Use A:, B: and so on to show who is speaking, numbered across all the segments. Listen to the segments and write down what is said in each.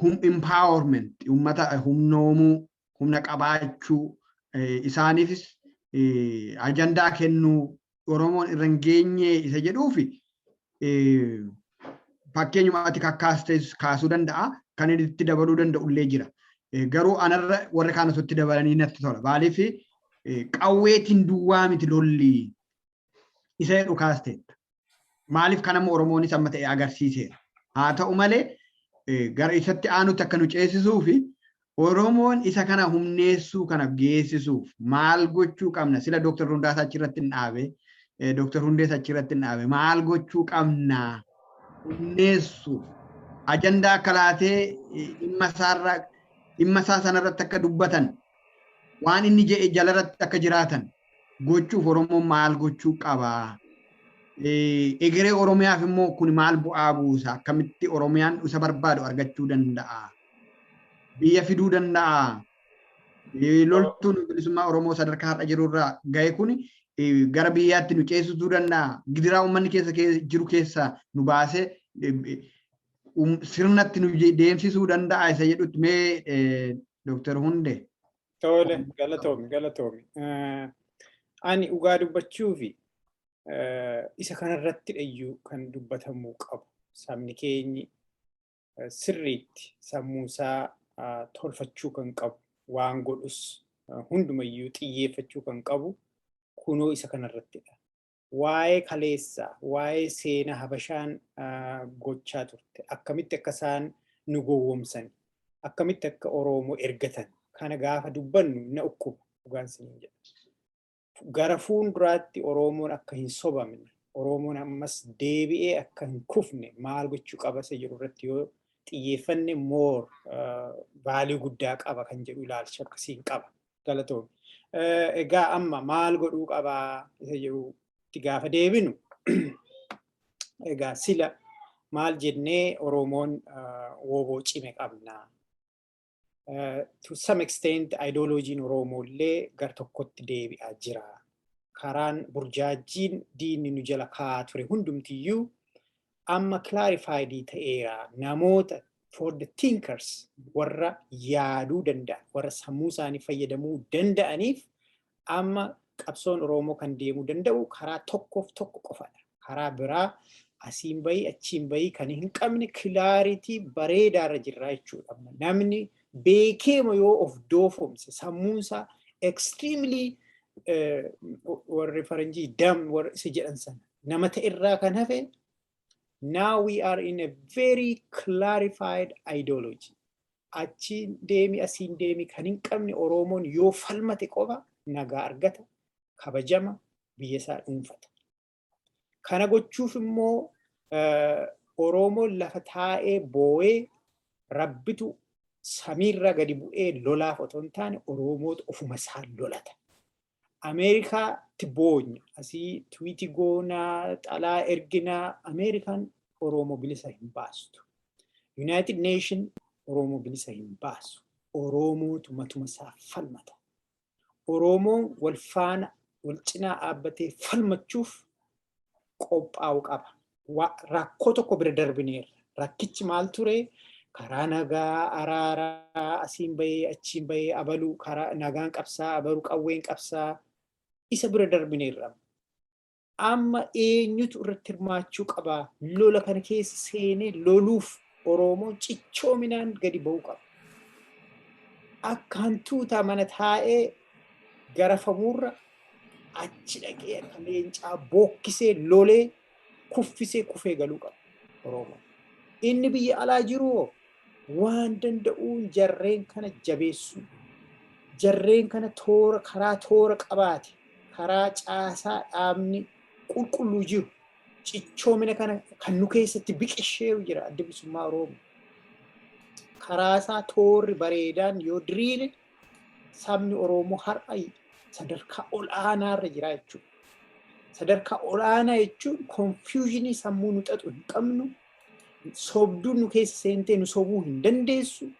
A: hum empowerment ummata humnoomuu humna qabaachuu isaaniifis ajandaa kennuu Oromoon irra hin geenye isa jedhuufi fakkeenyuma ati kakkaastees kaasuu danda'a kan inni itti dabaluu danda'u illee jira. Garuu anarra warri kaan osoo itti dabalanii natti tola. Maaliif qawweetiin duwwaa miti lolli Isa jedhu kaasteetta. Maaliif kan amma Oromoonis amma ta'e agarsiiseera. Haa ta'u malee gara isatti aanutti akka nu ceesisuu fi Oromoon isa kana humneessuu kana geessisuuf maal gochuu qabna? Sila Dooktar Hundaasaa achirratti hin dhaabe. Dooktar Hundees achirratti hin dhaabe. Maal gochuu qabna? Humneessuuf. Ajandaa akka laatee dhimma isaarra dhimma isaa sanarratti akka dubbatan waan inni jedhe jalarratti akka jiraatan gochuuf Oromoon maal gochuu qaba? Egeree Oromiyaaf immoo kun maal bu'aa buusa? Akkamitti Oromiyaan isa barbaadu argachuu danda'a? Biyya fiduu danda'aa? Loltuun bilisummaa Oromoo sadarkaa har'a jirurraa ga'e kun gara biyyaatti nu ceesisuu danda'a? Gidiraa uummanni keessa jiru keessa nu baasee sirnatti nu deemsisuu danda'a isa jedhutti mee Dooktar Hunde Tole
B: galatoomi galatoomi. Eh, Ani dhugaa dubbachuufi eh, isa kanarratti iyyuu kan dubbatamuu qabu sabni keenyi eh, sirriitti sammuusaa ah, tolfachuu kan qabu waan godhus eh, hundumayyuu xiyyeeffachuu kan qabu kunoo isa kanarrattidha. waa'ee kaleessa, waa'ee seena Habashaan gochaa turte, akkamitti akka isaan nu gowwomsan, akkamitti akka Oromoo ergatan kana gaafa dubbannu na ukkuba dhugaan siniin jedha. Gara fuulduraatti Oromoon akka hin sobamne, Oromoon ammas deebi'ee akka hin kufne maal gochuu qaba isa jedhu irratti yoo xiyyeeffanne moor vaalii guddaa qaba kan jedhu ilaalcha akkasiin qaba. galatoomi. Egaa amma maal godhuu qabaa isa jedhutti gaafa deebinu egaa sila maal jennee Oromoon wooboo cime qabna. To some extent ideologiin Oromoo illee gar tokkotti deebi'aa jira. Karaan burjaajjiin diinni nu jala kaa'aa ture hundumtiyyuu amma clarified ta'eera namoota for the thinkers warra yaaduu danda'an warra sammuu isaanii fayyadamuu danda'aniif amma qabsoon Oromoo kan deemuu danda'u karaa tokkoof tokko qofadha. Karaa biraa asiin bahii achiin bahii kan hin qabne kilaaritii bareedaarra jirraa jechuudha. Namni beekeema yoo of doofomse sammuunsaa extremely warri faranjii dam warri isa jedhan sana nama ta'e irraa kan hafe now we are in a very clarified ideology. Achiin deemi asiin deemi kan hin qabne Oromoon yoo falmate qofa nagaa argata, kabajama, biyya isaa dhuunfata. Kana gochuuf immoo Oromoon lafa taa'ee boo'ee rabbitu samiirraa gadi bu'ee lolaaf otoo hin taane Oromootu ofuma isaan lolata. Ameerikaatti boonya asii tiwiitii goonaa xalaa erginaa Ameerikaan Oromoo bilisa hin baastu. Yuunaayitid Neeshin Oromoo bilisa hin baasu. Oromootu matuma isaa falmata. Oromoon wal faana wal cinaa dhaabbatee falmachuuf qophaa'u qaba. rakkoo tokko bira darbineerra. Rakkichi maal ture? Karaa nagaa, araaraa, asiin bahee, achiin bahee, abaluu, karaa nagaan qabsaa, abaluu qawween qabsaa isa bira darbineerra. Amma eenyutu irratti hirmaachuu qaba? Lola kana keessa seenee loluuf Oromoon cichoominaan gadi ba'uu qaba. Akka hantuutaa mana taa'ee garafamuurra achi dhaqee akka leencaa bookkisee lolee kuffisee kufee galuu qaba Oromoo. Inni biyya alaa jiru hoo waan danda'uun jarreen kana jabeessuu jarreen kana toora karaa toora qabaate karaa caasaa dhaabni qulqulluu jiru cichoomina kana kan nu keessatti biqishee jira adda bilisummaa Oromoo. Karaa isaa toorri bareedaan yoo diriire sabni Oromoo har'a sadarkaa ol'aanaa irra jira jechuudha. Sadarkaa ol'aanaa jechuun konfiyuushinii sammuu nu xaxu hin qabnu, sobduun nu keessa seentee nu sobuu hin dandeessu,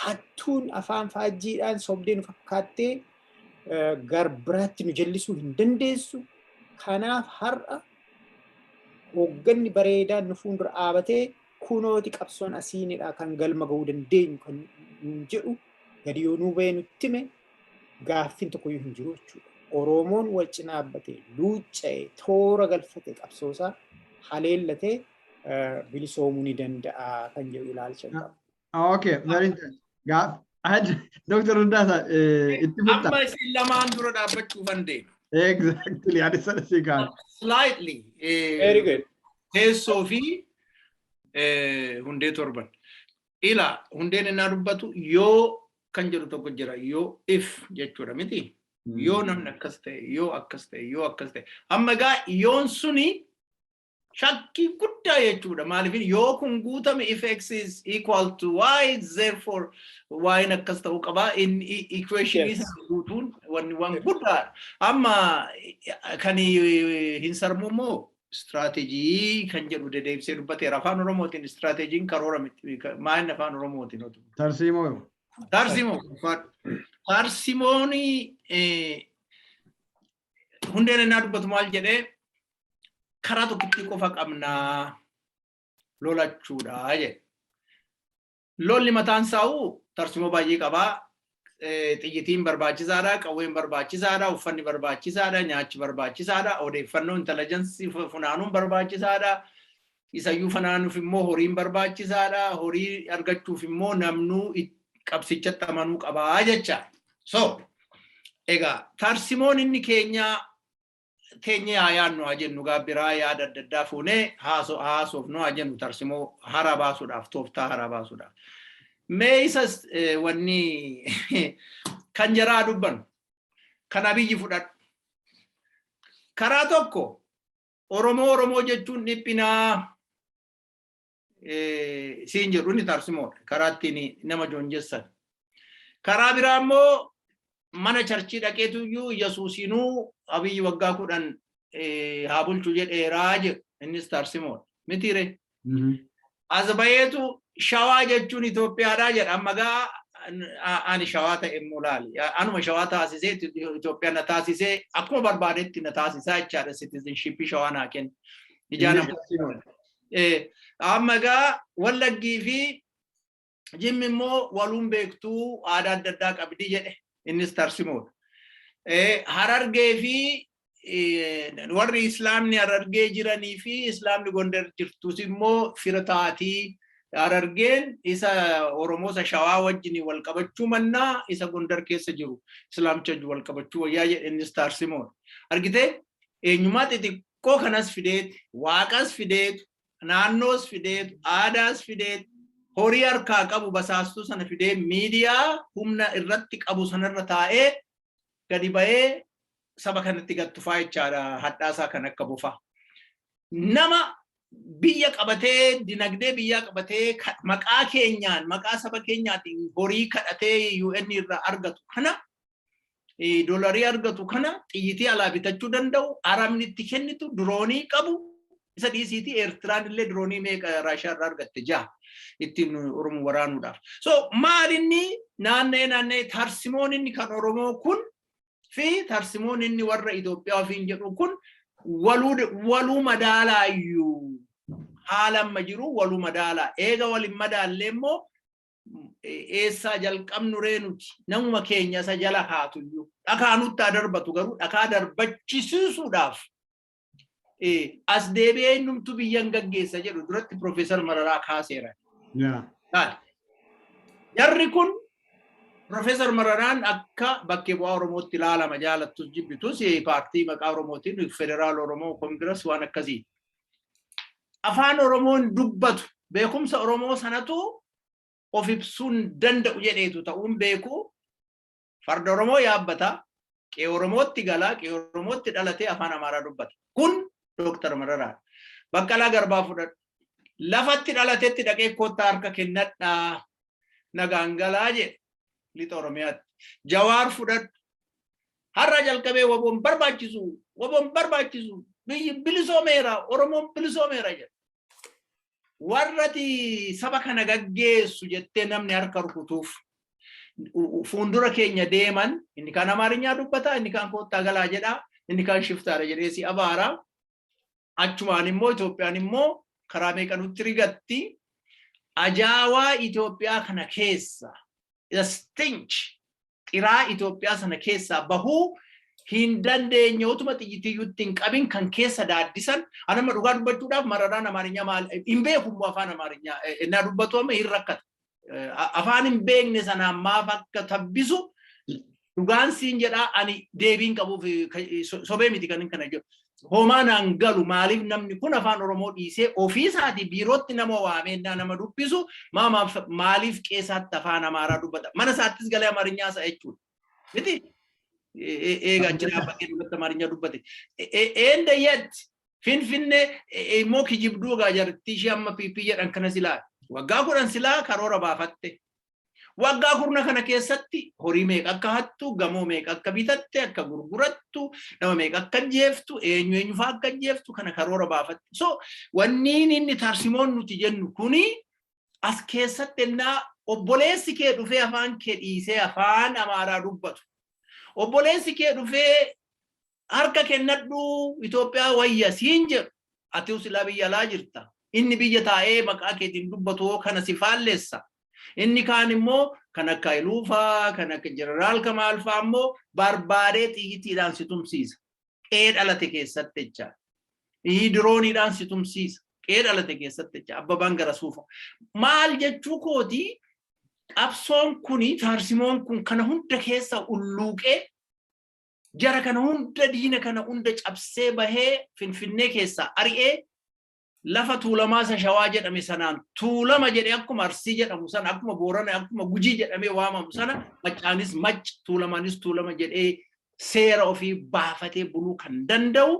B: hattuun afaan faajjiidhaan sobdee nu fakkaattee garbiraatti nu jallisuu hin dandeessu. Kanaaf har'a hoogganni bareedaan nu fuuldura dhaabatee kunooti qabsoon asiinidha kan galma ga'uu dandeenyu kan jedhu gadi yoo nuu bahee nutti hime gaaffiin tokkoyyuu hin jiru jechuudha. Oromoon wal cinaa dhaabbatee luucca'ee toora galfatee qabsoosaa haleellatee bilisoomuu ni danda'a kan jedhu ilaalcha qaba. Okay, very
A: interesting. Gaaf, Hajji, Dr. Hundaasa, itti fufta. Amma
C: isin lamaan dura dhaabbachuu kan deema. Exactly,
A: ani sana si kaan. Slightly.
C: eh, Very good.
B: Teessoo fi
C: eh, hundee torban. Ilaa, hundeen innaa dubbatu yoo kan jedhu tokko jira. Yoo if jechuudha miti. Yoo namni akkas ta'e, yoo akkas ta'e, yoo akkas ta'e. Amma egaa yoon suni shakkii guddaa jechuudha. Maaliif yoo kun guutame if x is equal to y therefore y n akkas ta'uu qaba. In equation Yes. isaa guutuun wanni waan guddaadha. Amma kan hin sarmu immoo Istiraateejii kan jedhu dedeebisee dubbateera. Afaan Oromootiin istiraateejiin karoora miti. Maayinni afaan Oromootiin otu. Tarsiimoo yoo.
A: Tarsimoo.
C: Tarsimoon hundeen innaa dubbatu maal jedhee karaa tokkittii qofa qabnaa lolachuudha jedhe. Lolli mataan isaa'u tarsimoo baay'ee qaba. Xiyyitiin barbaachisaadha, qawween barbaachisaadha, uffanni barbaachisaadha, nyaachi barbaachisaadha, odeeffannoo intalajansii funaanuun barbaachisaadha. Isayyuu funaanuuf immoo horiin barbaachisaadha. Horii argachuuf immoo namnuu qabsichatti amanuu qabaa jecha. So, egaa tarsimoon inni keenyaa teenyee haa yaadnu haa jennu gaa biraa yaada adda addaa fuunee haasofnu haa jennu tarsimoo haaraa baasuudhaaf tooftaa haaraa baasuudhaaf. Mee isas wanni kan jaraa dubbannu kan abiyyi fudhadhu. Karaa tokko Oromoo Oromoo jechuun dhiphinaa siin jedhu inni tarsimoodha karaa ittiin nama joonjessan. Karaa biraa immoo mana charchii dhaqeetu iyyuu Yesuusinuu abiyyi waggaa kudhan haa bulchu jedheeraa jedhu innis tarsimoodha. Mitiire. As bayeetu shawaa jechuun Itoophiyaadhaa jedha amma gaa ani shawaa ta'e immoo laali. Anuma shawaa taasisee Itoophiyaa na taasisee akkuma barbaadetti na taasisaa jechaadha citizenshipii shawaa naa kenna. Ijaan Amma egaa wallaggii fi jimmi immoo waluun beektuu aadaa adda addaa qabdi jedhe innis tarsimoodha. Harargee fi warri islaamni harargee jiranii fi islaamni gondar jirtus immoo fira taatii harargeen isa oromoo isa shawaa wajjin wal qabachuu mannaa isa gondar keessa jiru islaamcha wal qabachuu wayyaa jedhe innis tarsimoodha. Argitee eenyummaa Rakkoo kanas fideet, Waaqas fideet, naannoos fideet, aadaas fideet, horii harkaa qabu basaastuu sana fidee miidiyaa humna irratti qabu sanarra taa'ee gadi ba'ee saba kanatti gad tufaa jechaadha hadhaasaa kan akka bofaa. Nama biyya qabatee dinagdee biyyaa qabatee ka- maqaa keenyaan maqaa saba keenyaatiin horii kadhatee UN irraa argatu kana doolarii argatu kana xiyyitii alaa bitachuu danda'u arabni itti kennitu diroonii qabu isa dhiisiitii eertiraan illee diroonii meeqa raashiyaa irraa argatte jaha ittiin oromoo waraanuudhaaf. So maal inni naanna'ee naanna'ee tarsimoon inni kan oromoo kun fi tarsimoon inni warra Itoophiyaa ofiin jedhu kun waluu madaalaayyuu haala amma jiru waluu madaala eega waliin madaallee immoo eessaa jalqabnu ree nuti namuma keenya isa jala kaatu iyyuu dhakaa nutti haa darbatu garuu dhakaa darbachisiisuudhaaf as deebi'ee innumtu biyyan gaggeessa jedhu duratti Piroofeesar Mararaa kaaseera. Jarri kun Piroofeesar Mararaan akka bakkee bu'aa Oromootti ilaalama jaalattus jibbitus paartii maqaa Oromootiin federaal Oromoo koongiras waan akkasii. afaan Oromoon dubbatu beekumsa Oromoo sanatu of ibsuun danda'u jedheetu ta'uun beeku farda Oromoo yaabbata qe'ee Oromootti galaa qe'ee Oromootti dhalatee afaan Amaaraa dubbata. Kun Dooktar Mararaa. Baqqalaa Garbaa fudhadhu. Lafatti dhalatetti dhaqee koottaa harka kennadhaa nagaan galaa jedhe lixa Oromiyaatti. Jawaar fudhadhu. Har'aa jalqabee waboon barbaachisu waboon barbaachisu biyyi bilisoomeera Oromoon bilisoomeera jedha. Warrati saba kana gaggeessu jettee namni harka rukutuuf fuuldura keenya deeman inni kaan Amaarinyaa dubbata inni kaan koottaa galaa jedha inni kaan shiftaara jedhee si abaara. achumaan immoo Itoophiyaan immoo karaa meeqa nutti rigatti ajaawaa Itoophiyaa kana keessa the stinch xiraa Itoophiyaa sana keessaa bahuu hin dandeenye utuma xiyyitiyyutti hin qabin kan keessa daaddisan anama dhugaa dubbachuudhaaf mararaan amaarinyaa maal hin beeku immoo afaan amaarinyaa innaa dubbatu amma hin rakkata afaan hin beekne sanaan maaf akka tabbisu dhugaan siin jedhaa ani deebiin qabuuf sobee miti kan kana jedhu. Homaa naan galu maaliif namni kun afaan Oromoo dhiisee ofiisaati biirootti nama waameenyaa nama dubbisu maaliif qeesaatti afaan Amaaraa dubbata. Mana isaattis galee Amarinyaa isaa jechuudha. miti eega achi dhaabbatee dubbatti amaarinyaa dubbate eenda yet finfinnee immoo kijibduu egaa jartii ishee amma piipii jedhan kana silaa waggaa kudhan silaa karoora baafatte waggaa kurna kana keessatti horii meeqa akka hattu gamoo meeqa akka bitatte akka gurgurattu nama meeqa akka ajjeeftu eenyu eenyu fa'aa akka ajjeeftu kana karoora baafatte so wanniin inni tarsimoon nuti jennu kuni as keessatti ennaa obboleessi kee dhufee afaan kee dhiisee afaan amaaraa dubbatu obboleessi kee dhufee harka kennadhu Itoophiyaa wayya siin jedhu ati usilaa biyya alaa jirta inni biyya taa'ee maqaa keetiin dubbatu hoo kana si faallessa inni kaan immoo kan akka Iluufaa kan akka Jeneraal Kamaalfaa immoo barbaadee xiyyitiidhaan si tumsiisa qe'ee dhalate keessatti jecha ii dirooniidhaan si tumsiisa qe'ee dhalate keessatti jecha abbabaan gara suufa maal jechuu kooti qabsoon kuni taarsimoon kun kana hunda keessa ulluuqee jara kana hunda diina kana hunda cabsee bahee finfinnee keessaa ari'ee lafa tuulamaa isa shawaa jedhame sanaan tuulama jedhe akkuma arsii jedhamu sana akkuma boorana akkuma gujii jedhamee waamamu sana maccaanis mac tuulamaanis tuulama jedhee seera ofii baafatee buluu kan danda'u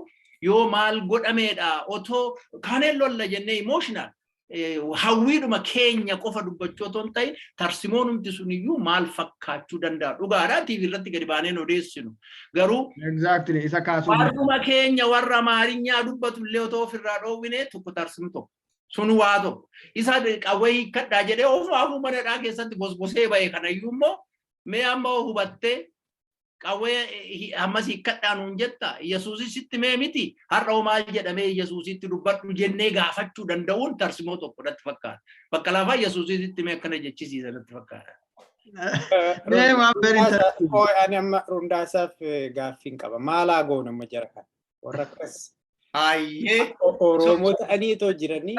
C: yoo maal godhameedha otoo kaaneen lolla jennee emotional hawwiidhuma keenya qofa dubbachuu otoo hin ta'in tarsimoonumti suniyyuu maal fakkaachuu danda'a dhugaadhaa tiivii irratti gadi baaneen odeessinu Garuu Exactly isa
A: kaasuu warruma keenya
C: warra Amaarinyaa dubbatu illee otoo ofirraa dhoowwine tokko tarsinu tokko. Sun waa tokko. Isa qawwee hiikkadhaa jedhee ofuma afuu manadhaa keessatti gosgosee ba'e kanayyuu immoo mee amma hoo hubattee qawwee hi- ammas hiikkadhaa nuun jetta Yesuusis sitti mee miti har'a hoo maal jedhamee Yesuusitti dubbadhu jennee gaafachuu danda'uun tarsimoo tokko natti fakkaata. Bakka lafaa Yesuusitti mee akkana jechisiisa natti fakkaata. Mee waan barii Rundaasaaf-
B: taasisu. oo, ani amma Rundaasaaf eh, gaaffiin qaba. Maalaa goona amma jara kana? Warra akkas Ayyee. o- Oromoo ta'anii itoo jiranii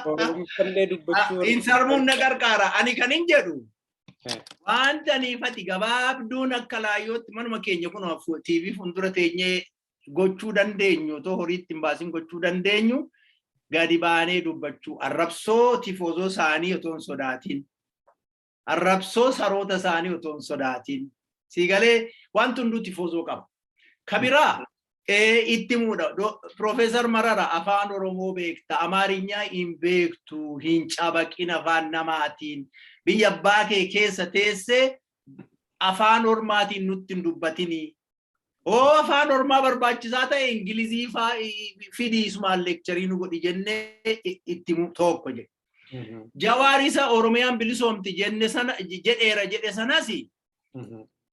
B: Oromifallee dubbachuu warra- Insarmuun na gargaara.
C: Ani kan hin jedhu. Eh. Wanta niifati gabaabduun akka laayyootti manuma keenya kun TV fuuldura teenyee gochuu dandeenyu otoo horiitti hin baasin gochuu dandeenyu gadi baanee dubbachuu arrabsoo tifoozoo isaanii otoo hin sodaatiin arrabsoo saroota isaanii otoo hin sodaatiin siigalee wanti hunduu tifoozoo qaba. Kabiraa itti muudha Piroofeesar Marara afaan Oromoo beekta Amaarinyaa hin beektu hin cabaqin afaan namaatiin biyya abbaa kee keessa teessee afaan ormaatiin nutti hin dubbatinii Oo afaan ormaa barbaachisaa ta'e Ingilizii faa fidii ismaan leekcharii nu godhi jennee itti himu tokko jedhe. Jawaar isa Oromiyaan bilisoomti jenne sana jedheera jedhe sanas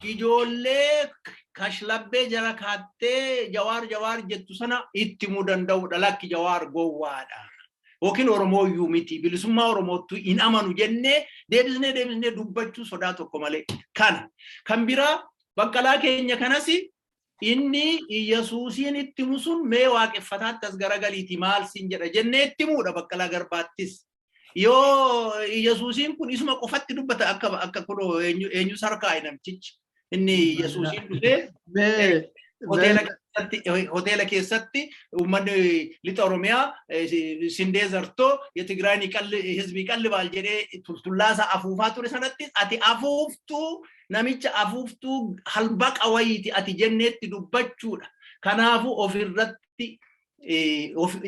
C: ijoollee kashlabbee jara kaattee jawaar jawaar jettu sana itti himuu danda'udha lakki jawaar gowwaadha. Yookiin Oromoo iyyuu miti bilisummaa Oromoottu hin amanu jennee deebisnee deebisnee dubbachuu sodaa tokko malee kana. Kan biraa Baqqalaa keenya kanas inni Iyyasuusiin itti himu sun mee waaqeffataatti as garagaliiti maal siin jedha jennee itti himuudha Baqqalaa Garbaattis. Yoo Iyyasuusiin kun isuma qofatti dubbata akka akka kunoo eenyu eenyu sarkaa'i namtichi inni Iyyasuusiin dhufee Mee hoteela keessatti hoteela keessatti uummanni lixa Oromiyaa sindee zartoo Tigraayni qalli hizbii qalli baal jedhee tultullaasaa afuufaa ture sanatti ati afuuftuu namicha afuuftuu halbaqa wayiiti ati jenneetti dubbachuudha. Kanaafuu ofirratti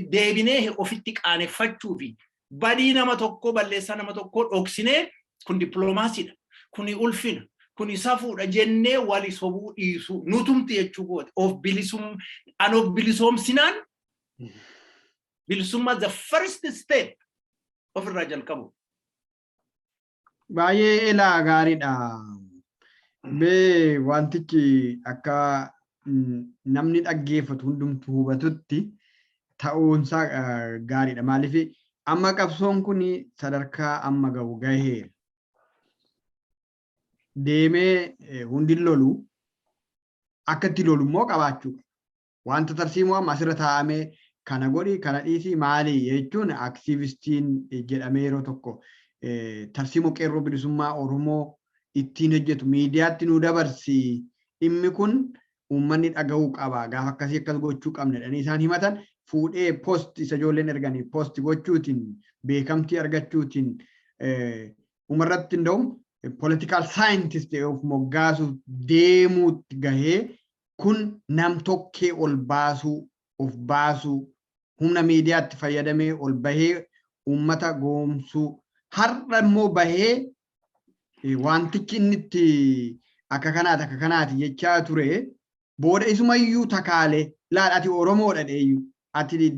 C: deebinee ofitti qaaneffachuu fi badii nama tokkoo balleessaa nama tokkoo dhoksinee kun dippiloomaasiidha. Kuni ulfina. Kuni safuudha jennee wali sobuu dhiisuu nutumti jechuu kooti. Of bilisum an of bilisoomsinaan bilisummaa the first step ofirraa jalqabu.
A: Baay'ee elaa gaariidha. Mee wantichi akka mm, namni dhaggeeffatu hundumtu hubatutti ta'uunsaa eh, gaariidha. Maaliif amma qabsoon kun sadarkaa amma ga'u gaheera. Deemee eh, hundi lolu akka itti lolu immoo qabaachuu qaba. Wanta tarsiimoo amma asirra taa'ame kana godhi kana dhiisi maali jechuun aktiivistiin jedhamee yeroo tokko tarsiimoo qeerroo bilisummaa Oromoo ittiin hojjetu miidiyaatti nuu dabarsi dhimmi kun uummanni dhaga'uu qaba gaafa akkasii akkas gochuu qabna jedhanii isaan himatan fuudhee post isa ijoolleen erganii post gochuutiin beekamtii argachuutiin umarratti hunda'u political scientist of moggaasuuf deemuutti gahee Kun nam-tokkee ol baasuu, of baasuu, humna miidiyaatti fayyadamee ol bahee uummata gowomsuu, har'a immoo bahee waantichi inni itti akka kanaati akka kanaati jechaa ture booda isuma iyyuu takaale laal ati Oromoodha dheeyyu ati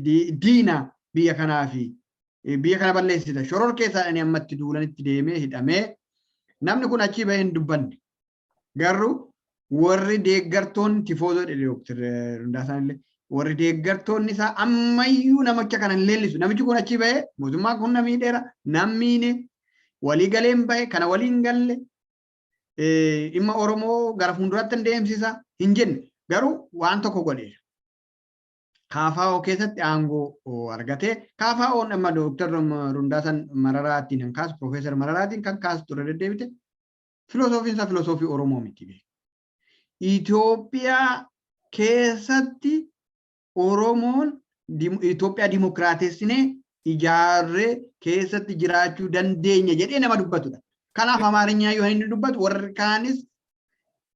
A: diina biyya kanaa fi biyya kana balleessita shororkeessaadhani ammatti duulanitti deemee hidhamee namni kun achii bahee hin dubbanne Garuu warri deeggartoonni tifoozoo jedhe Dooktar Hundaasaan illee warri deeggartoonni isaa ammayyuu namicha kana hin leellisu. Namichi kun achi ba'ee mootummaa kun na miidheera, na miine, walii galee hin ba'e, kana walii hin galle, dhimma Oromoo gara fuulduraatti hin deemsisa hin jenne. Garuu waan tokko godheera. Kaafaa'oo keessatti aangoo argatee kaafaa'oon amma Dooktar Hundaasan Mararaatiin kan kaasu Piroofeesar Mararaatiin kan kaasu ture deddeebite filosoofiin isaa filosoofii Oromoo miti beeku. Itoophiyaa keessatti Oromoon Itoophiyaa dimokiraatessinee ijaarree keessatti jiraachuu dandeenya jedhee nama dubbatudha. Kanaaf Amaarinyaa yoo inni dubbatu warri kaanis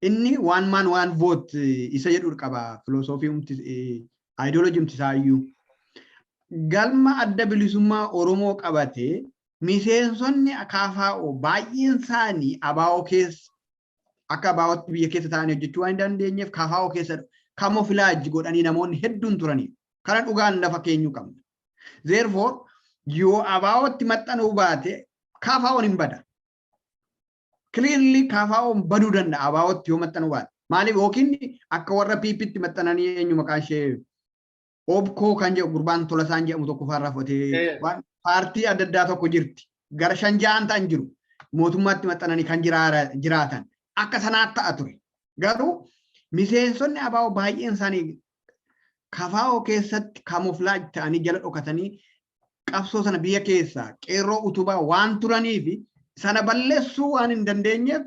A: inni waan maan waan voot isa jedhu qaba filosoofii humti ideology humti isaayyuu. Galma adda bilisummaa Oromoo qabatee miseensonni KFO baay'een isaanii ABO keessa akka ABOtti biyya keessa taa'anii hojjechuu waan hin dandeenyeef KFO keessa kamofilaajji godhanii namoonni hedduun turaniiru. Kana dhugaan lafa keenyuu qabna. Therefore, yoo ABOtti maxxanuu baate KFO'n hin bada. Clearly KFO'n baduu danda'a ABOtti yoo maxxanuu baate. Maaliif yookiin akka warra PPtti maxxananii eenyu maqaan ishee Obkoo kan jedhu gurbaan Tolasaan jedhamu tokko faarraa fudhatee Eh. waan paartii adda addaa tokko jirti. Gara shan ja'an ta'an jiru. Mootummaatti maxxananii kan jiraara- jiraatan. Akka sanaatti ta'a ture. Garuu miseensonni abaa'oo baay'een isaanii kafaa'oo keessatti kamooflaaj ta'anii jala dhokatanii qabsoo sana biyya keessaa qeerroo utubaa waan turanii fi sana balleessuu waan hin dandeenyeef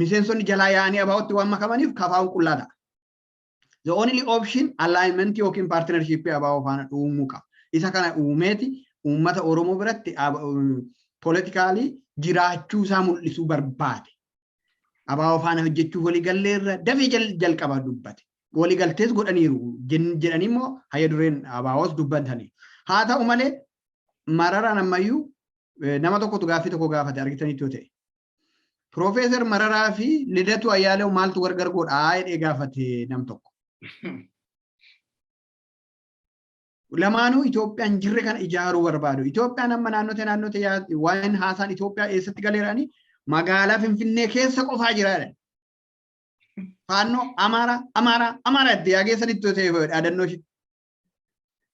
A: miseensonni jalaa yaa'anii abaa'ootti waan makamaniif kafaa'uun qullaa ta'a. The only option alignment yookiin partnership ABO faana uumuu qaba. Isa kana uumeeti uummata Oromoo biratti politikaalii jiraachuu isaa mul'isuu barbaade. ABO faana hojjechuuf waliigallee irra dafee jalqaba dubbate. Waliigaltees godhaniiru jedhanii immoo hayya dureen ABOs dubbatanii. Haa ta'u malee mararaan ammayyuu nama tokkotu gaaffii tokko gaafate argitanitti yoo ta'e. Piroofeesar Mararaa fi Lidatuu Ayyaalew maaltu gargar godha jedhee gaafate nam tokko. Lamaanuu Itoophiyaan jirre kana ijaaruu barbaadu. Itoophiyaan amma naannote naannote waan haasaan Itoophiyaa eessatti galeerani magaalaa Finfinnee keessa qofaa jiraadha. Faannoo Amaaraa Amaaraa Amaaraa itti yaageessan itti ta'e dhaadannoo ishee.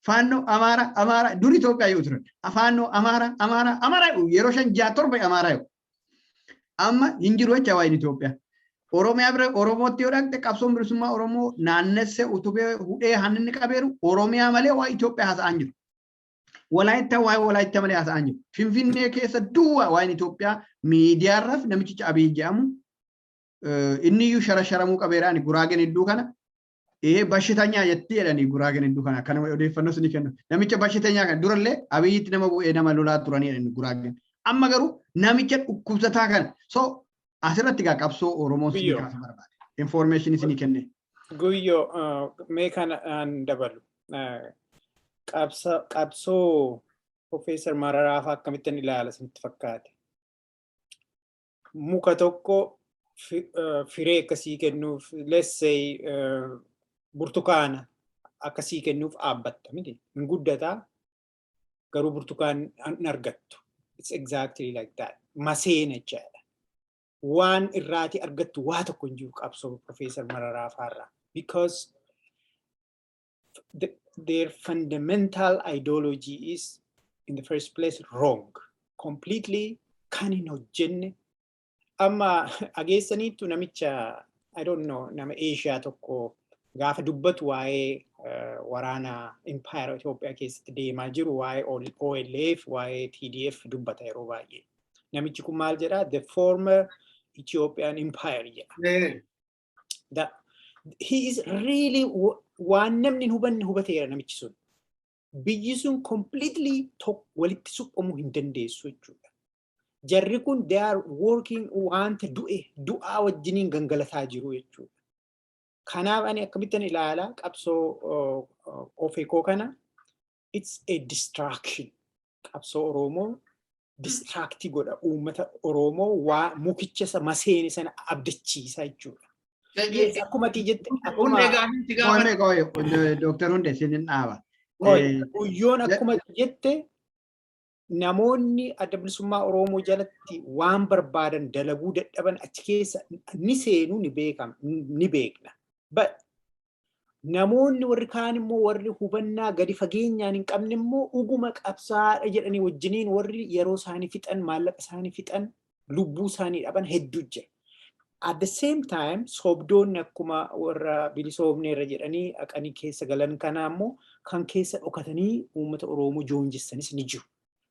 A: Faannoo Amaara Amaara dur Itoophiyaa yoo turan Faannoo Amaara Amaara Amaara yeroo shan ja'a torba Amaara yoo amma hin jiru jecha waa'een Itoophiyaa. Oromiyaa bira Oromootti yoo dhaqxe qabsoon bilisummaa Oromoo naannessee utubee hudhee hanninni qabeeru Oromiyaa malee waa'ee Itoophiyaa haasa'aa jiru. Walaayittaa waa'ee Walaayittaa malee haasa'aa jiru. Finfinnee keessa duwwaa waa'een Itoophiyaa miidiyaarraaf namichicha Abiy jedhamu inni iyyuu shara sharamuu qabeera ani guraageen hedduu kana Ee bashitanyaa jettii jedhanii guraagen hedduu kana akkana odeeffannoo isinii kennu. Namicha bashitanyaa kana durallee abiyyiitti nama bu'ee nama lolaa turanii jedhanii guraagen. Amma garuu namicha dhukkubsataa kana so asirratti gaa qabsoo Oromoo isinii Guyyoo. kaasa barbaade. Information isinii kenne. Guyyoo ah,
B: mee kana aan dabalu. Ah, qabsa- Qabsoo Profeesar Mararaa fa'aa akkamittan ilaala isinitti fakkaate? muka tokko firee akkasii kennuuf let's say burtukaana akkasii kennuuf dhaabbatta miti hin guddataa garuu burtukaan hin argattu it's exactly like that maseena jechaadha waan irraati argattu waa tokko hin jiru qabsoo profeesar mararaa faarraa because their fundamental ideology is in the first place wrong completely kan hin hojjenne amma ageessaniittu namicha I don't know nama Eeshiyaa tokko gaafa dubbatu waa'ee eh, waraana impaayera Itoophiyaa keessatti deemaa jiru waa'ee OL- OLF waa'ee TDF dubbata yeroo baay'ee namichi kun maal jedha the former Ethiopian empire jedha Eh, that he is really wa- waan namni hin hubanne hubateera namichi sun. Biyyi sun completely tok- walitti suphamuu hin dandeessu jechuudha. Jarri kun they are working wanta du'e du'aa wajjiniin gangalataa jiru jechuudha. Kanaaf ani akkamittan ilaala qabsoo uh, uh, ofeekoo kana it's a distraction qabsoo Oromoo distraaktii godha uummata Oromoo waa mukicha isa maseene sana abdachiisa jechuudha. Yes, akkuma ati jette Hundee akkuma gaafii si gaafadha. Qoyme qoy
A: Dr. Hunde sinin dhaaba. Qoy, Eh, guyyoon
B: akkuma ati jette namoonni adda bilisummaa Oromoo jalatti waan barbaadan dalaguu dadhaban achi keessa ni seenu ni beekama ni beekna. But namoonni warri kaan immoo warri hubannaa gadi fageenyaan hin qabne immoo dhuguma qabsaadha jedhanii wajjiniin warri yeroo isaanii fixan maallaqa isaanii fixan lubbuu isaanii dhaban hedduu jira. At the same time sobdoonni akkuma warra bilisoomnee irra jedhanii haqanii keessa galan kanaa immoo kan keessa dhokatanii uummata Oromoo joonjessanis ni jiru.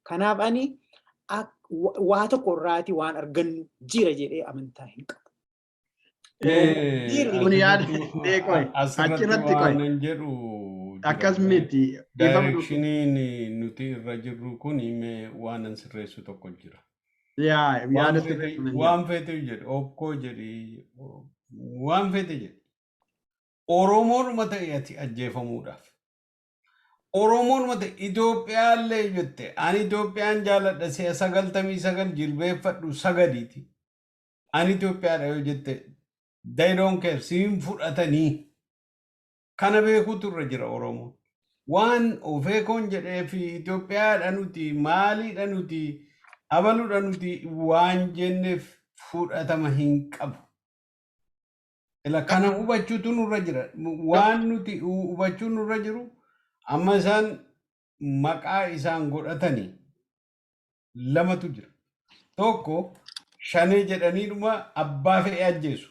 B: Kanaaf ani waa tokko irraati waan argannu jira jedhee amantaa hin qabu.
A: Kun yaada deeqoe achirratti qoe. Waanan jedhu Akkas miti. Daayirekshiniin
D: nuti irra jirru kun mee waanan sirreessu tokko jira. Yaa yaada sirreessu. Waan feete jedhe okkoo jedhi waan feete jedhe. Oromoodhuma ta'e ati ajjeefamuudhaaf. Oromoodhuma ta'e Itoophiyaa illee jette ani Itoophiyaan jaaladha si'a sagaltamii sagal jilbeeffadhu sagadiiti. Ani Itoophiyaadha yoo jette they don't care si hin fudhatanii. Kana beekuutu irra jira Oromoon. Waan ofeekoon jedhee fi Itoophiyaadha nuti maaliidha nuti abaluudha nuti waan jenneef fudhatama hin qabu. Ila kana hubachuutu nurra jira. Waan nuti hu- hubachuu nurra jiru amma isaan maqaa isaan godhatanii lamatu jira. Tokko shanee jedhaniidhuma abbaa fe'ee ajjeesu.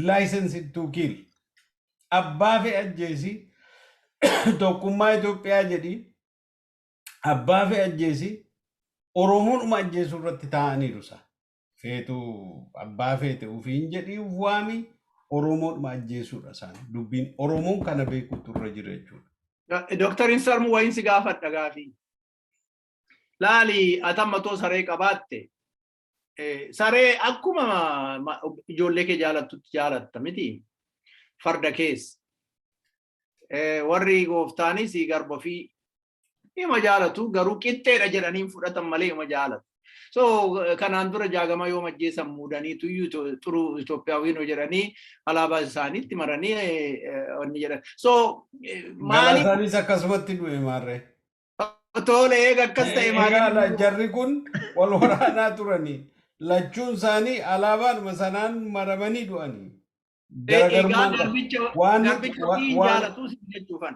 D: License to kill. Abbaa fe'ee ajjeesi tokkummaa Itoophiyaa jedhi abbaa fe'ee ajjeesi Oromoodhuma ajjeesuu irratti taa'aniiru isaa. Feetu abbaa feete ofiin jedhii of waami Oromoodhuma ajjeesuudha isaan. Dubbiin Oromoon kana beekuutu irra jira jechuudha. Dooktar Insarmu
C: wayiin si gaafadha gaafii. laali atamma too saree qabaatte saree akkuma ijoollee kee jaalattutti jaalatta miti farda kees warri gooftaanis garba fi ima jaalatu garuu qixxeedha jedhaniin fudhatan malee ima jaalatu. So kanaan dura jaagama yoo majjeessan muudanii tuyyuu xuruu Itoophiyaawwiin jedhanii alaabaa isaaniitti maranii wanni jedhan. So maaliif
D: Galaasaanis akkasumatti du'e maarree. Toole
C: eega akkas ta'e Egaa la- maatiin jarri kun
D: wal waraanaa turanii lachuun isaanii alaabaadhuma sanaan maramanii du'anii. egaa Garagarummaan qaba. garbicha Waan nuti garbicha wa- ofii hin waan jaalatus jechuufan.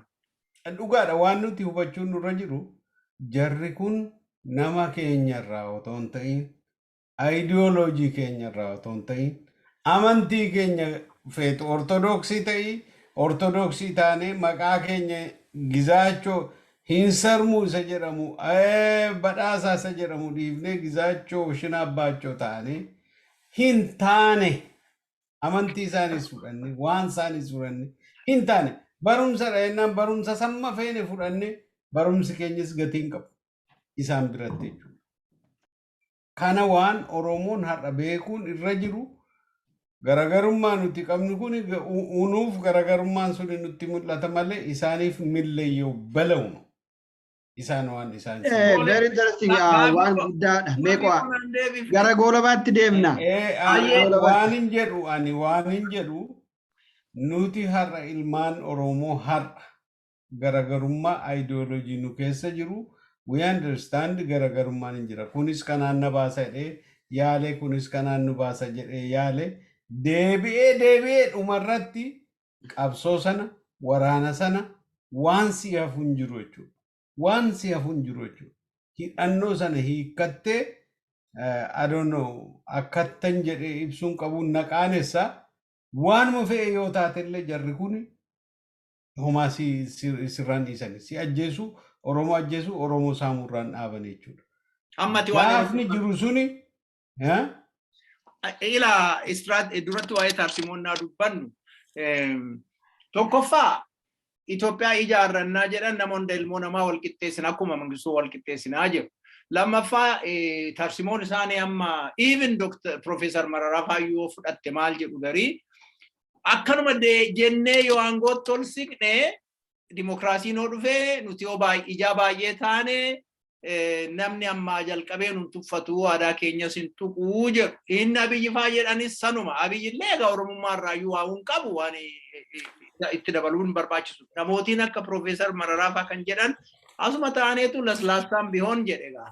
D: dhugaadha waan nuti hubachuun nurra jiru jarri kun nama keenyarraa otoo hin ta'in Ayidiyooloojii keenya irraa otoo hin ta'in amantii keenya feetu ortodoksii ta'i ortodoksii taanee maqaa keenya gizaachoo hin sarmuu isa jedhamu eh, badhaasaa isa jedhamu dhiifnee gizaachoo shina abbaachoo taanee hin taane amantii isaaniis fudhanne waan isaaniis fudhanne hin taane barumsa dha jennaan barumsa samma feene fudhanne barumsi keenyas gatii hin qabu isaan biratti jechuudha. Kana waan Oromoon har'a beekuun irra jiru garagarummaa nuti qabnu kuni nuuf garagarummaan suni nutti mul'ata malee isaaniif milleyyoo balauma. Isaan waan isaan Eh, seenaa. very interesting.
A: Ah, Gaafii waan koo- guddaadha. Mee gaafii qo'a. koo naan deebifte. Gara goolabaatti deemna. Eh, eh, Gara ani waan goolabaatti. hin jedhu
D: ani waan hin jedhu nuti har'a ilmaan Oromoo har'a garagarummaa ideology nu keessa jiru we understand garagarummaan hin jira kunis kanaan na baasa jedhee yaale kunis kanaan nu baasa jedhee yaale deebi'ee deebi'ee dhumarratti qabsoo sana waraana sana waan si hafu hin jiru jechuudha. Waan si hafu hin jiru jechuudha. Hidhannoo sana hiikkattee I don't know akkattan jedhee ibsuun qabuun na qaanessa waanuma fe'e yoo taate illee jarri kun homaa si si- sirraan dhiisani si ajjeesu oromoo ajjeesu oromoo saamuu irraan dhaaban jechuudha Amma ati waan
C: gaafni jiru
D: suni
C: eh? ila istiraat duratti waa'ee taarsimonnaa dubbannu eem, tokkoffaa Itoophiyaa ijaarrannaa jedhan nama hunda ilmoo namaa wal qixxeessina akkuma mangistuu wal qixxeessinaa jedhu. Lammaffaa eh, taarsimoo isaanii amma even Dr. Profeesar Mararaa Faayyoo fudhatte maal jedhu garii Akkanuma jennee yoo aangootti ol siqne dimokiraasiin yoo dhufe nuti yoo ijaa baay'ee taane namni ammaa jalqabee nun tuffatu aadaa keenyas hin tuqu jedhu. Inni abiyyi faa jedhanis sanuma. Abiyyi illee egaa oromummaa irraa iyyuu waa hin qabu waan itti dabaluu hin barbaachisu. Namootiin akka Piroofeesar Mararaa faa kan jedhan asuma taaneetu laslaastaan bihoon jedhe egaa.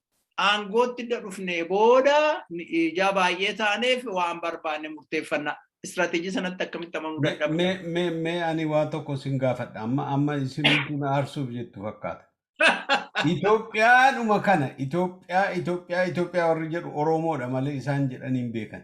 C: aangootti dha dhufnee booda ijaa baay'ee taaneef waan barbaanne murteeffanna. Istiraatejii sanatti akkamitti amanuu dadhabna? Mee mee mee ani waa
D: tokko sin gaafadha amma amma isin kun aarsuuf jettu fakkaata. Itoophiyaadhuma kana Itoophiyaa Itoophiyaa Itoophiyaa warri jedhu Oromoodha malee isaan jedhanii hin beekan.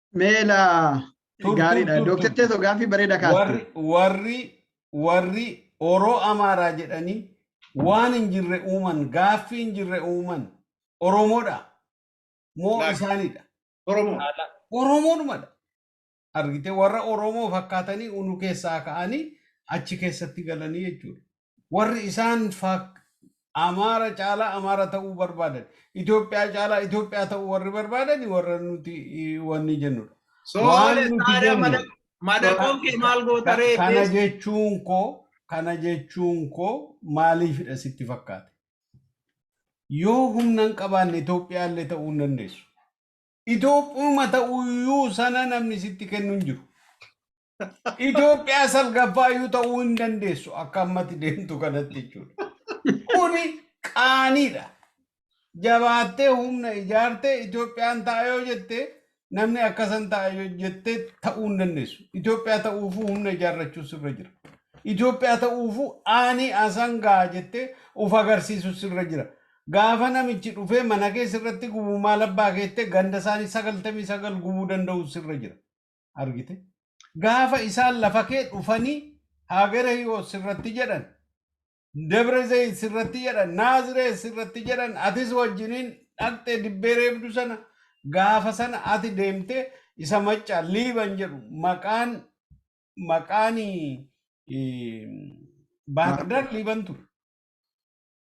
A: Meela Tur, gaariidha. tur, tur, Dooktar tur. Teesoo gaaffii bareeda kaaste. warri warri
D: warri oroo amaaraa jedhanii waan hin jirre uuman gaaffii hin jirre uuman oromoodha moo Laal. isaanidha Oromoo. Ala. oromoodhumadha argite warra oromoo fakkaatanii unu keessaa ka'anii achi keessatti galanii jechuudha Warri isaan faak Amaara caalaa Amaara ta'uu barbaadan, Itoophiyaa caalaa Itoophiyaa ta'uu warri barbaadani warra nuti wanni jennudha. So Waan nuti lessaadha jennu mada
C: madaqoon kee maal goota ka- ree kana tees jechuun koo
D: kana jechuun koo maaliifidha sitti fakkaate? Yoo humna hin qabaanne Itoophiyaa illee ta'uu hin dandeessu. Itoophiyuma ta'uyyuu sana namni sitti kennu hin jiru. Itoophiyaa salgaffaa iyyuu ta'uu hin dandeessu akka ammatti deemtu kanatti jechuudha. Kuni qaaniidha. Jabaattee humna ijaartee Itoophiyaan ta'a yoo jette namni akkasan ta'a yoo jette ta'uu hin dandeessu. Itoophiyaa ta'uufuu humna ijaarrachuu sirra jira. Itoophiyaa ta'uufuu aanii asan ga'a jettee of agarsiisu sirra jira. Gaafa namichi dhufee mana keessa irratti gubu maal abbaa keettee ganda isaanii sagaltamii sagal gubuu danda'u sirra jira. argite gaafa isaan lafa kee dhufanii haagere hiwoot sirratti jedhan debre zeyin sirratti jedhan naazireen sirratti jedhan atis wajjiniin dhaqxee dibbee reebdu sana gaafa sana ati deemte isa macca liiban jedhu maqaan maqaani baahardar liiban ture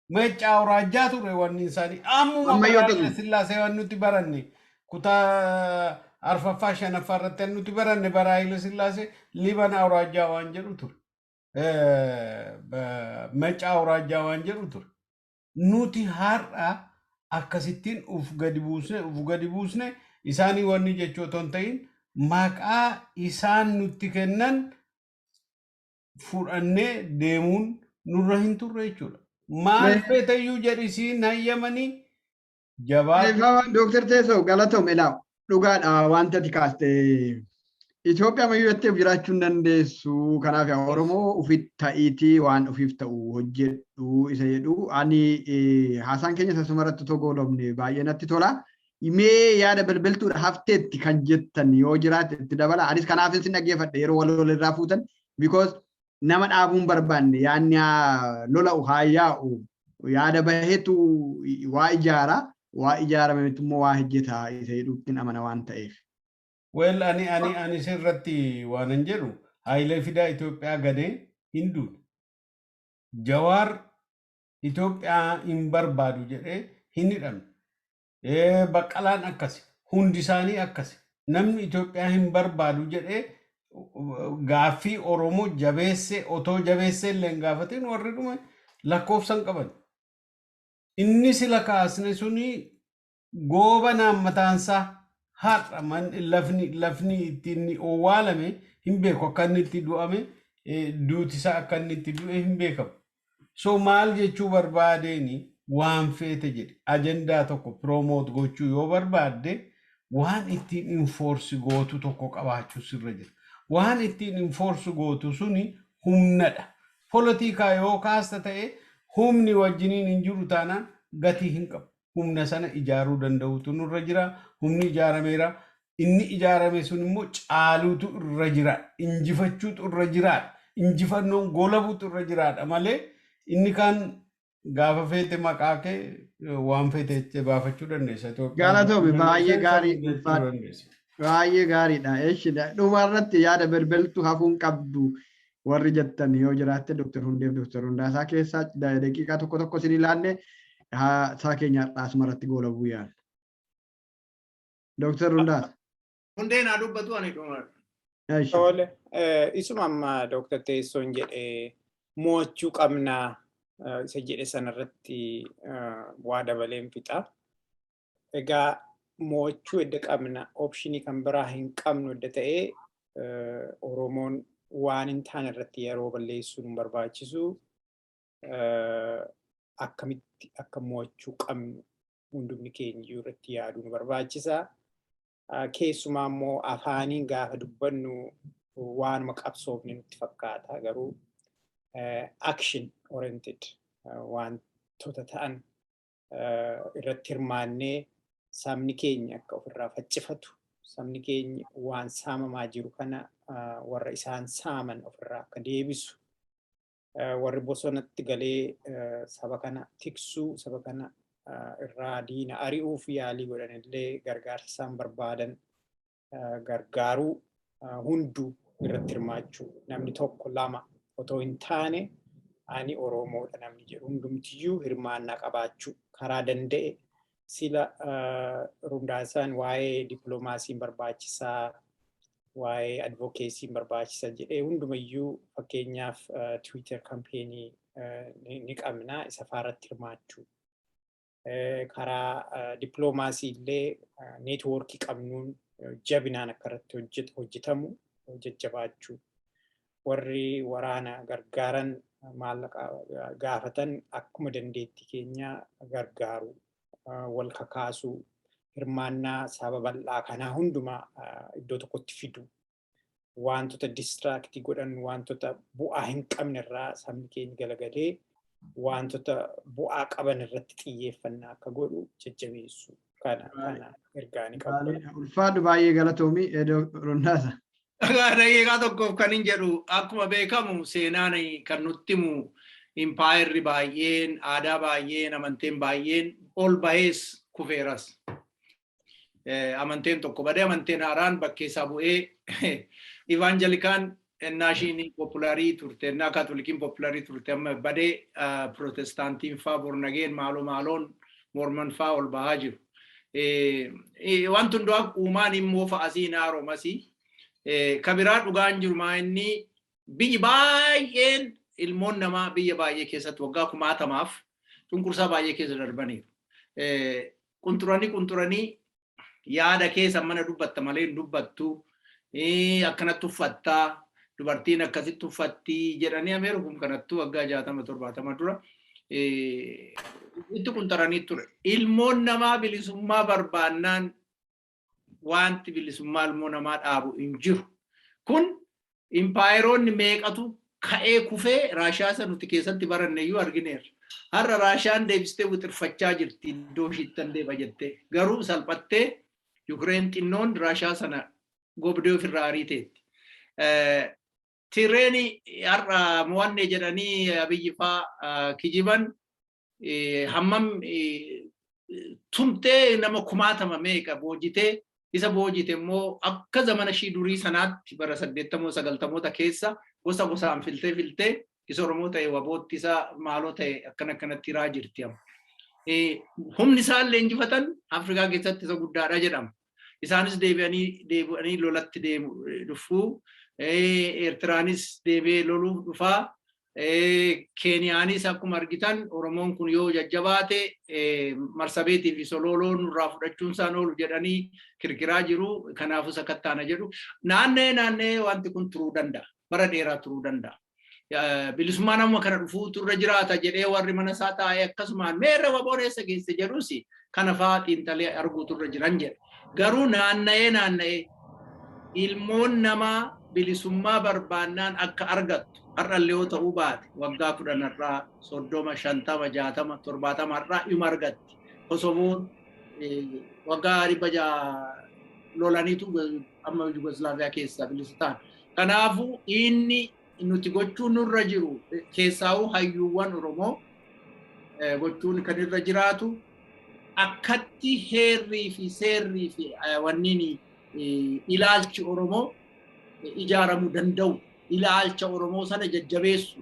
D: Meeccaa Awuraajjaa ture wanni isaanii. Ammuma Amma bara yoo Hayila ta'u- Sillaasee waan nuti baranne kutaa arfaffaa shanaffaa irratti waan nuti baranne bara Hayila Sillaasee Liban Awuraajjaa waan jedhu ture. Eh, ba- Meeccaa Awuraajjaa waan jedhu ture. Nuti har'a akkasittiin uf gadi buusne uf gadi buusne isaanii wanni jechuu otoo hin ta'in maqaa isaan nutti kennan fudhannee deemuun nurra hin turre jechuudha. Maal Mee- feetayyuu jedhi siin hayyamanii jabaatu.
A: Eebbaawaan Dooktar Teessoo galatoom ilaa dhugaadha wanta ati kaaste Itoophiyaa mayyuu jettee of jiraachuu hin dandeessu kanaaf yaa Oromoo ofitti ta'iitii waan ofiif ta'u hojjedhu isa jedhu ani eh, haasaan keenya sasuma irratti otoo goolabne baay'ee natti tola. mee yaada belbeltuudha hafteetti kan jettan yoo jiraate itti dabala anis kanaaf isin dhaggeeffadhe yeroo wal wal irraa fuutan because nama dhaabuun barbaanne yaanni haa lola'u haa yaa'u yaada bahetu waa ijaara waa ijaarame mitti immoo waa hojjeta isa jedhuuttiin amana waan ta'eef. Weel
D: ani ani ani sirratti waanan jedhu Haayilee Fidaa Itoophiyaa ganee hin duune. Jawaar Itoophiyaa hin barbaadu jedhee hin hidhamne. Ee, Baqqalaan akkasi. Hundi isaanii akkasi. Namni Itoophiyaa hin barbaadu jedhee gaaffii Oromoo jabeessee otoo jabeessee illee hin gaafatin warri dhume lakkoofsa hin qaban. Inni sila kaasne suni goobanaan mataansaa har'a man- lafni lafni itti inni owwaalame hin beeku akka inni itti du'ame eh, duuti isaa akka inni itti du'e hin beekamu. So maal jechuu barbaadeeni waan feete jedhe ajandaa tokko piroomoot gochuu yoo barbaadde waan ittiin infoorsi gootu tokko qabaachuu sirra jira. Waan ittiin infoorsi gootu suni humnadha. Polotikaa yoo kaasta ta'e humni wajjiniin hin jiru taanaan gatii hin qabu. humna sana ijaaruu danda'uutu nurra jira. Humni ijaarameera. Inni ijaarame sun immoo caaluutu irra jira. Injifachuutu irra jiraadha. Injifannoon goolabuutu irra jiraadha malee inni kaan gaafa feete maqaa kee eh, waan feete itti baafachuu dandeessa. Itoophiyaa Galatoomi bulchuu baay'ee
A: dandeessa, gaarii isa bulchuu ulfaadha. dandeessa. Baay'ee gaariidha. Eshi dhumarratti yaada belbeltu hafuun qabdu warri jettan yoo jiraatte Dr. Hundeef Dr. Hundaasaa keessaa da- daqiiqaa tokko tokko isin ilaalle haasaa keenya har'aas maratti goolabuu yaalla. Dr. Hundaasa. Hundeen haa
C: dubbatu ani dhuma. Eesh. Tole,
B: eh, isuma amma Dooktar Teessoon jedhe mo'achuu qabna eh, isa jedhe sanarratti eh, waa dabaleen fixa. Egaa mo'achuu edda qabna opshinii kan biraa hin qabnu edda ta'ee Oromoon waan hin taane irratti yeroo balleessuu nu barbaachisu akkamitti akka mo'achuu qabnu hundumni keenya iyyuu irratti yaaduu nu barbaachisa. Keessumaa immoo afaaniin gaafa dubbannu waanuma qabsoofne nutti fakkaata garuu action oriented wantoota ta'an irratti hirmaannee sabni keenya akka ofirraa faccifatu sabni keenya waan saamamaa jiru kana warra isaan saaman ofirraa akka deebisu warri bosonatti galee saba kana tiksuu saba kana irraa diina ari'uuf yaalii godhanillee gargaarsa isaan barbaadan gargaaruu hundu irratti hirmaachuu namni tokko lama otoo hin taane ani Oromoodha namni jedhu hundumtiyyuu hirmaannaa qabaachuu karaa danda'e sila rundaasaan waa'ee dippiloomaasiin barbaachisaa waa'ee advokeesiin barbaachisa jedhee hundumayyuu fakkeenyaaf tiwiitar kampeenii ni qabna isa faarratti hirmaachuu. karaa dippiloomaasii illee neetwoorkii qabnuun jabinaan akka irratti hojjetamu jajjabaachuu warri waraana gargaaran maallaqa gaafatan akkuma dandeettii keenya gargaaru wal kakaasuu hirmaannaa saba bal'aa kanaa hundumaa iddoo tokkotti fidu wantoota distraaktii godhan wantoota bu'aa hin qabne irraa sabni keenya galagalee wantoota bu'aa qaban irratti xiyyeeffannaa akka godhu jajjabeessu kana kana ergaanii qabu. Ulfaadhu baay'ee
A: galatoomi Rondaasa. Dhagaa daqiiqaa
C: tokkoof kan hin jedhu akkuma beekamu seenaan kan nutti himu impaayerri baay'een aadaa baay'een amanteen baay'een ol bahees kufeeras. amanteen tokko badee amanteen haaraan bakkee isaa bu'ee ivaanjelikaan ennaa ishiin poopulaarii turte ennaa kaatolikiin poopulaarii turte amma badee pirootestaantiin faa bornageen maaloo maaloon morman faa ol bahaa jiru. Wanti hundaa uumaan immoo fa'asii hin haaromasii. Kabiraa dhugaan jiru maa inni biyyi baay'een ilmoon namaa biyya baay'ee keessatti waggaa kumaatamaaf cunqursaa baay'ee keessa darbaniiru. Qunxuranii qunxuranii yaada keessa mana dubbatta malee hin dubbattu akkanatti uffatta dubartiin akkasitti uffatti jedhanii ameeru kun kanattu waggaa jaatama torbaatama dura itti qunxaranii ture. Ilmoon namaa bilisummaa barbaannaan Wanti bilisummaa ilmoo namaa dhaabu hin jiru. Kun impaayeroonni meeqatu ka'ee kufee Raashiyaa isa nuti keessatti baranne iyyuu argineerra. Har'a Raashiyaan deebistee wixirfachaa jirti iddoo ishiittan deeba jettee. Garuu salphattee Yukireen xinnoon Raashiyaa sana gobdee ofirraa ariiteetti. Tireeni har'a mo'anne jedhanii Abiyyi faa kijiban hammam tumtee nama kumaatama meeqa boojitee isa boojite immoo akka zamana ishii durii sanaatti bara saddeettamoo sagaltamoota keessa gosa gosaan filtee filtee isa Oromoo ta'e wabootti isa maaloo ta'e akkana akkanatti hiraa jirti. Humni isaan leenjifatan Afrikaa keessatti isa guddaadha jedhama. Isaanis deebi'anii deebi'anii lolatti deemu dhufu. Eertiraanis deebi'ee loluuf dhufa. Keeniyaanis akkuma argitan Oromoon kun yoo jajjabaate marsabeetii fi solooloo nurraa fudhachuun isaan oolu jedhanii kirkiraa jiru. Kanaafuu sakattaana jedhu. Naanna'ee naanna'ee wanti kun turuu danda'a. Bara dheeraa turuu danda'a. bilisummaan amma kana dhufuutu irra jiraata jedhee warri mana isaa taa'ee akkasumaan meerra waboon eessa geesse jedhus kana fa'aa xiinxalee arguutu irra jiran jedha. Garuu naanna'ee naanna'ee ilmoon namaa bilisummaa barbaannaan akka argattu har'allee yoo ta'uu baate waggaa kudhan har'aa soddoma shantama jaatama torbaatama har'aa ima argatti. Kosovoon waggaa dhibba ja'a lolaniitu amma Yugoslaaviyaa keessaa bilisa ta'an. Kanaafu dhiinni nuti gochuu nurra jiru keessaa'uu hayyuuwwan Oromoo gochuun kan irra jiraatu akkatti heerrii fi seerrii fi wanniin ilaalchi Oromoo ijaaramuu danda'u ilaalcha Oromoo sana jajjabeessu.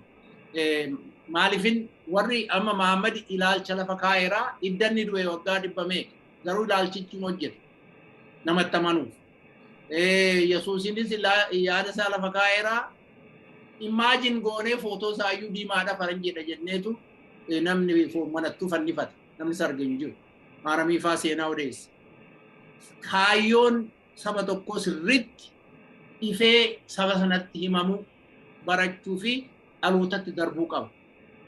C: Maalifin warri amma Mahammad ilaalcha lafa kaa'eeraa iddanni du'e waggaa dhibba meeqa garuu ilaalchichi hojjeta namatti amanuuf. Eh, Yesuusinis ilaa- yaada isaa lafa kaa'eera. Imaajin goonee footoo isaa iyyuu diimaadha faranjiidha jenneetu eh, namni fo- manattuu fannifata. Namni sarge hin jiru. Maaramii faa seenaa odeessa. Kaayyoon saba tokkoo sirriitti ifee saba sanatti himamu barachuu fi dhalootatti darbuu qaba.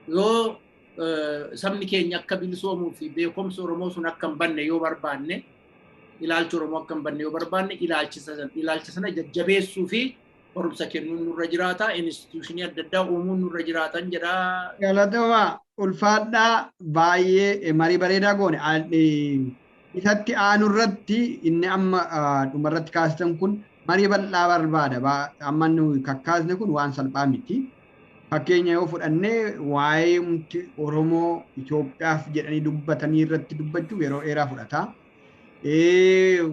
C: Yoo eh, sabni keenya akka bilisoomuu fi beekumsi Oromoo sun akka hin banne yoo barbaanne ilaalcha Oromoo akka hin banne yoo barbaanne ilaalcha sana jajjabeessuu fi barumsa kennuun nurra jiraata. Instituushinii adda addaa uumuun nurra jiraatan jedha. Galatoomaa
A: ulfaadhaa baay'ee marii bareedaa goone. Isatti aanu irratti inni amma dhuma irratti kaasitan kun marii bal'aa barbaada. Amma kakkaasne kun waan salphaa miti. Fakkeenya yoo fudhanne waa'ee umti Oromoo Itoophiyaaf jedhanii dubbatanii irratti dubbachuuf yeroo dheeraa fudhata.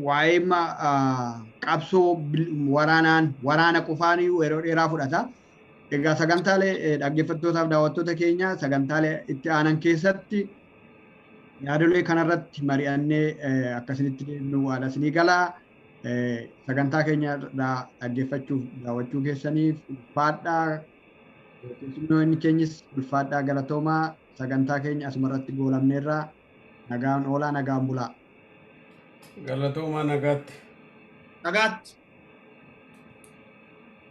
A: Waa'ee qabsoo waraanaan waraana qofaan yeroo dheeraa fudhata. Egaa sagantaalee dhaggeeffattootaaf daawwattoota keenya sagantaalee itti aanan keessatti yaadolee kanarratti mari'annee akkasinitti deemnu waada isinii galaa. Sagantaa keenya irraa dhaggeeffachuuf daawwachuu keessaniif ulfaadhaa keessummoonni keenyis ulfaadhaa galatoomaa sagantaa keenya asumarratti goolabneerra nagaan oolaa nagaan bulaa.
C: Galatoomaa
A: nagaatti. Nagaatti.